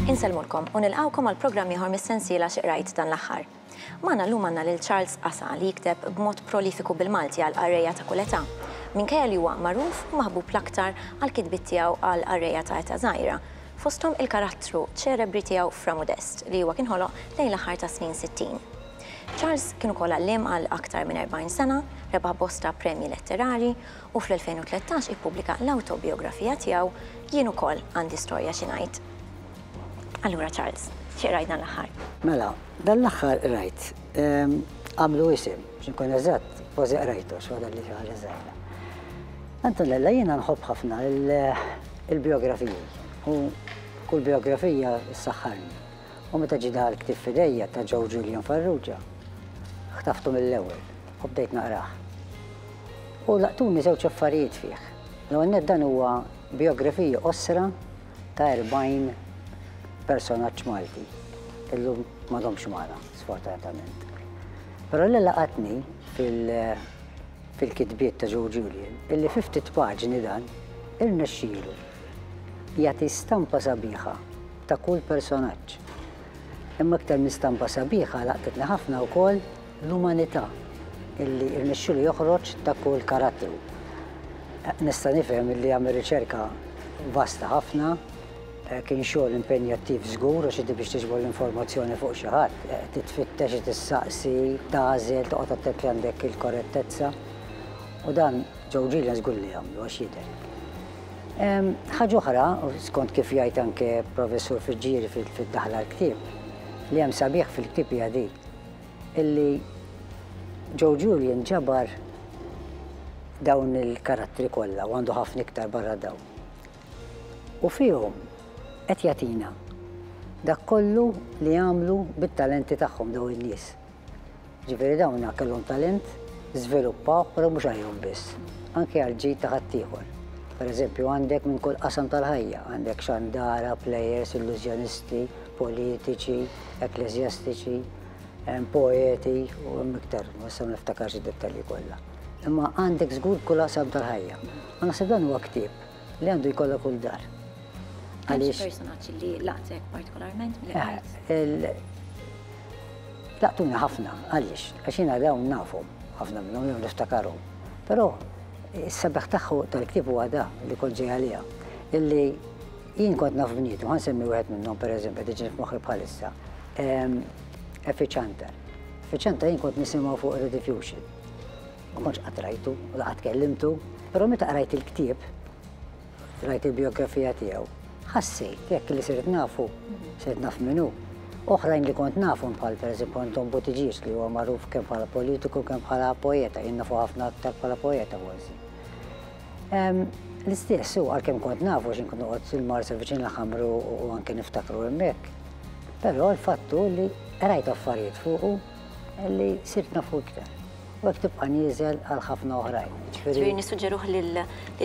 Insellmulkom u nilqgħukom għal programm ieħor mis-sensiela xi qrajt dan l-aħħar. Magħna llum għandna lil Charles Qasa li jikteb b'mod prolifiku bil-Malti għal qarrejja ta' kull età. Minkejja li huwa magħruf u maħbub l-aktar għall-kitbiet tiegħu għal qarrejja ta' età żgħira, fosthom il-karattru ċelebri tiegħu Fra Modest li huwa kien ħoloq lejn l-aħħar tas-snin sittin. Charles kien ukoll għalliem għal aktar minn 40 sena, rebaħ bosta premji letterarji u fl-2013 ippubblika l-awtobijografija tiegħu Jien ukoll għandi storja xi ngħid. Allura Charles, xi qrajt dan l-aħħar? Mela, dan l-aħħar qrajt Għamlu Isem, biex inkun eżatt, kważi qrajtu x'waħda li xi ħaġa żgħira. Antonella jiena nħobb ħafna Il-bijografiji u kull bijografija ssaħħarni. U meta ġie daħal ktieb f'idejja ta' Joe Julian Farrugia, ħtaftu mill-ewwel u bdejt naqrah. U laqtuni żewġ affarijiet fih. L-ewwel nett dan huwa bijografija qosra ta' 40 personaġġ Malti li llum m'għadhomx magħna, sfortunatament. Però li laqatni fil- fil-kitbiet ta' Joe Julian illi fi ftit paġni dan irnexxielu jagħti stampa sabiħa ta' kull personaġġ. Imma iktar minn stampa sabiħa laqtitni ħafna wkoll l-umanità illi irnexxielu joħroġ ta' kull karattru. Nista' nifhem illi għamel riċerka vasta ħafna, Kien xogħol impenjattiv żgur għax inti biex tiġbor l-informazzjoni fuq xi ħadd, trid tfittex, trid issaqsi, tagħżel, toqgħod attent li għandek il-korrettezza. U dan Joe Gillian żgur li għamlu għax jidher. Ħaġa oħra, skont kif jgħid anke Professur Fiġġieri fid-daħla għall-ktieb, li hemm sabiħ fil-ktieb hija di, illi Joe Gillian ġabar dawn il-karattri kollha u għandu ħafna iktar barra dawn. u fihom qed jagħtina dak kollu li għamlu bit-talenti tagħhom dawn in-nies. Ġifieri dawn kellhom talent, żviluppawh però mhux għalihom biss, anke għall-ġid ta' ħaddieħor. Pereżempju għandek minn kull qasam tal-ħajja, għandek xandara, plejers, illużjonisti, politiċi, ekkleżjastiċi, poeti u hemm iktar, ma se niftakarx id-dettalji kollha. Imma għandek żgur kull qasam tal-ħajja. Ma naħseb dan huwa ktieb li għandu jkollha kull dar. Għaliex personaġġ li laqtek partikolarment mill-qajt? Laqtuni ħafna, għaliex, għax jiena dawn nafu ħafna minnhom jew niftakaru. Però is-sabaħ tagħhu tal-ktieb huwa da li kont ġej għaliha. Illi jien kont naf bnietu, ħan semmi wieħed minnhom pereżempju diġi f'moħħi bħalissa. Effiċanter. Effiċanter jien kont nisimgħu fuq Rediffusion. Ma kontx qatt rajtu, la qatt kellimtu, però meta qrajt il-ktieb, qrajt il-bijografija tiegħu, ħassejt jekk li sirt nafu, sirt naf min hu. Oħrajn li kont nafhom bħal pereżempju Anton Buttigieg li huwa magħruf kemm bħala politiku kemm bħala poeta, jien nafu ħafna aktar bħala poeta forsi. L-istess hu għalkemm kont nafu x'in kont noqgħod il-Marsa viċin l-ħamru u anke niftakru hemmhekk. Però l-fattu li qrajt affarijiet fuqu li sirt nafu iktar. u hekk tibqa' nieżel għal ħafna oħrajn. Ġifieri nissuġġeruh lil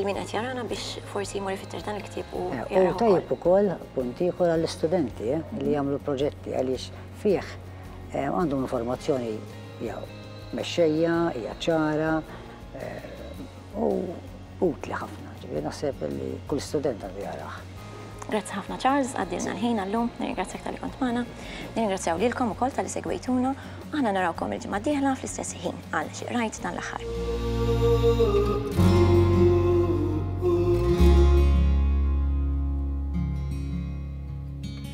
min qed jarana biex forsi jmur ifittex dan il-ktieb u eh, jaqrah. U tajjeb ukoll punt ieħor għall-istudenti eh, li jagħmlu proġetti għaliex fih eh, għandhom informazzjoni jew mexxejja, hija ċara u Utli ħafna, ġifieri naħseb li kull student għandu jaqrah. Grazzi ħafna Charles, għaddielna l-ħin għal-lum, nirringrazzjak talli kont magħna, nirringrazzjaw lilkom ukoll talli segwejtuna, u aħna narawkom il-ġimgħa d-dieħla fl-istess ħin għal Xi Qrajt dan l-aħħar.